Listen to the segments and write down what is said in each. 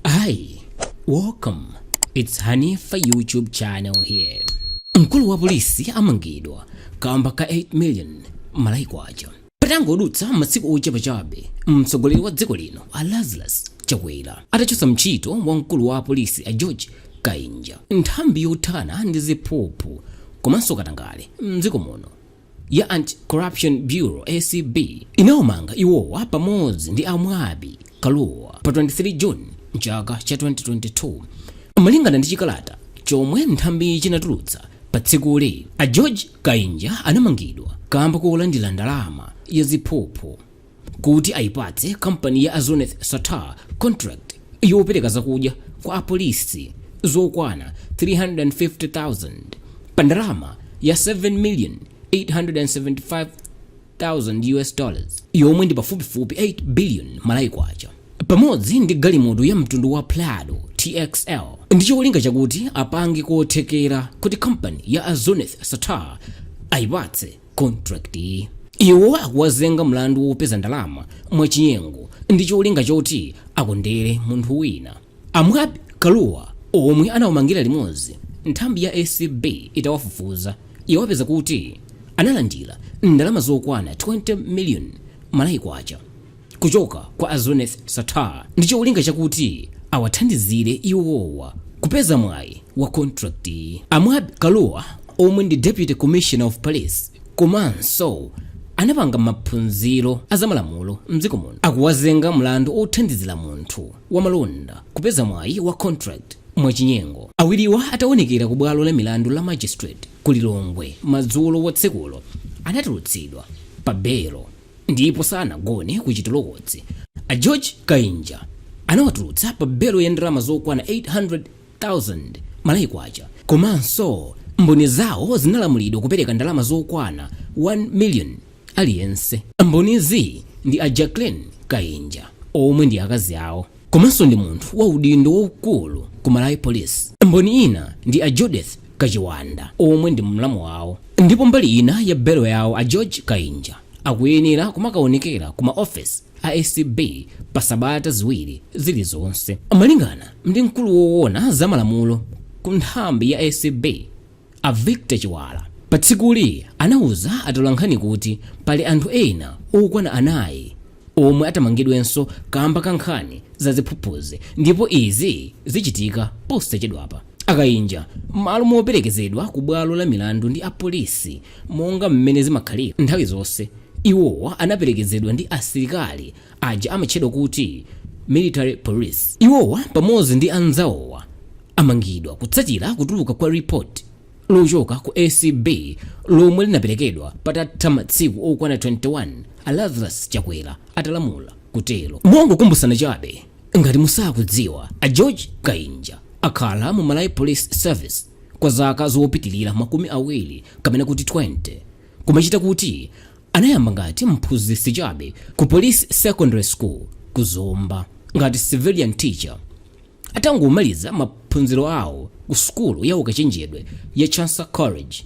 Hi, welcome. It's Hanifa YouTube channel here. Mkulu wa polisi amangidwa kamba ka 8 million Malawi kwacha. Patangodutsa masiku ochepa chabe, mtsogoleri wa dziko lino a Lazarus Chakwera atachotsa ntchito wa mkulu wa polisi a George Kainja nthambi yothana ndi ziphuphu komanso katangale mdziko muno. ya Anti-Corruption Bureau, acb, inawamanga iwowa pamodzi ndi a Mwabi Kaluwa pa 23 June mchaka cha 2022. Malingana ndi chikalata chomwe nthambiyi chinatulutsa pa tsikuli, a George Kainja anamangidwa kamba kolandira ndalama ya ziphuphu. kuti ayipatse kampani ya a Zuneth Sattar contract yopereka zakudya kwa apolisi zokwana 350,000 pa ndalama ya 7 million 875 thousand US dollars yomwe ndi pafupifupi 8 billion Malawi kwacha pamodzi ndi galimoto ya mtundu wa Prado TXL ndi cholinga chakuti apange kothekera kuti kampani ya a Zuneth Sattar ayipatse contract iwo akuwazenga mlandu wopeza ndalama mwachinyengo ndi cholinga choti akondere munthu wina a Mwabi Kaluwa omwe anawamangira limodzi nthambi ya acb itawafufuza yawapeza kuti analandira ndalama zokwana 20 million Malawi kwacha kuchoka kwa a Zuneth Sattar ndi cholinga chakuti awathandizire iwowa kupeza mwayi wa contractyi. A Mwabi Kaluwa omwe ndi Deputy Commissioner of Police komanso anapanga maphunziro a zamalamulo mdziko muno akuwazenga mlandu othandizira munthu wa malonda kupeza mwayi wa contract mwachinyengo. Awiriwa ataonekera ku bwalo la milandu la Magistrate ku Lilongwe madzulo a tsikulo anatulutsidwa pa belo. ndipo sanagone ku chitolokosi a george kainja anawatulutsa pa belo ya ndalama zokwana 800,000 malawi kwacha komanso mboni zawo zinalamulidwa kupereka ndalama zokwana 1 million aliyense mbonizi ndi a jacqueline kainja omwe ndi akazi awo komanso ndi munthu wa udindo waukulu ku malawi police mboni ina ndi a judith kachiwanda omwe ndi mlamu wawo ndipo mbali ina ya belo yawo a george kainja akuyenera kumakaonekera ku maofesi a acb pa sabata ziwiri zilizonse malingana ndi mkulu woona za malamulo ku nthambi ya acb A Victor Chiwala patsikuli anauza atolankhani kuti pali anthu ena okwana anayi omwe atamangidwenso kamba ka nkhani za ziphuphuzi ndipo izi zichitika posachedwapa. A Kainja mmalo moperekezedwa ku bwalo la milandu ndi apolisi monga mmene zimakhalira nthawi zonse, iwowa anaperekezedwa ndi asilikali aja amatchedwa kuti Military Police. Iwowa pamodzi ndi anzawowa amangidwa kutsatira kutuluka kwa report lochoka ku acb lomwe linaperekedwa patatha masiku okwana 21 a lazarus chakwera atalamula kutero mongokumbutsana chabe ngati musakudziwa a george kainja akhala mu malawi police service kwa zaka zopitirira makumi awiri kapena kuti 20 kumachita kuti anayamba ngati mphunzitsi chabe ku police secondary school ku zomba ngati civilian teacher atangomaliza maphunziro awo ku sukulu ya ukachenjedwe ya chancellor college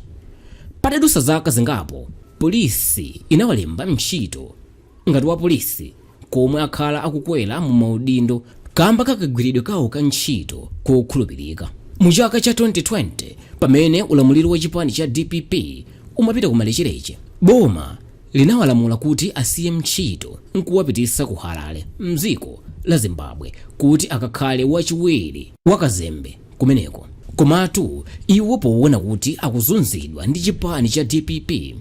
patadusa zaka zingapo polisi inawalemba ntchito ngati wa polisi komwe akhala akukwera mu maudindo kamba kakagwiridwe kawo ka ntchito kokhulupirika mu chaka cha 2020 pamene ulamuliro wa chipani cha dpp umapita ku malechereche boma linawalamula kuti asiye ntchito nkuwapitisa ku Harare mdziko la Zimbabwe kuti akakhale wachiwiri wa kazembe kumeneko. Komatu iwo poona kuti akuzunzidwa ndi chipani cha dpp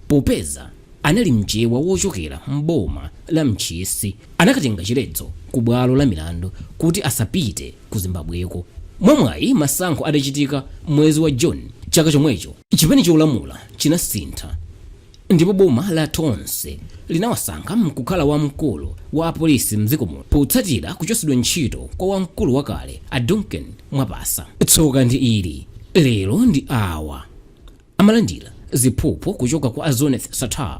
popeza anali mchewa wochokera m'boma la Ntchisi anakatenga chiletso ku bwalo la milandu kuti asapite ku Zimbabweko. Mwamwayi masankho adachitika mwezi wa June chaka chomwecho chipani cholamula chinasintha. Ndipo boma la Tonse linawasankha nkukhala wamkulu wa apolisi mdziko muno potsatira kuchosedwa ntchito kwa wamkulu wakale a Duncan Mwapasa. Tsoka ndi ili lero ndi awa amalandira ziphuphu kuchoka kwa a Zuneth Sattar.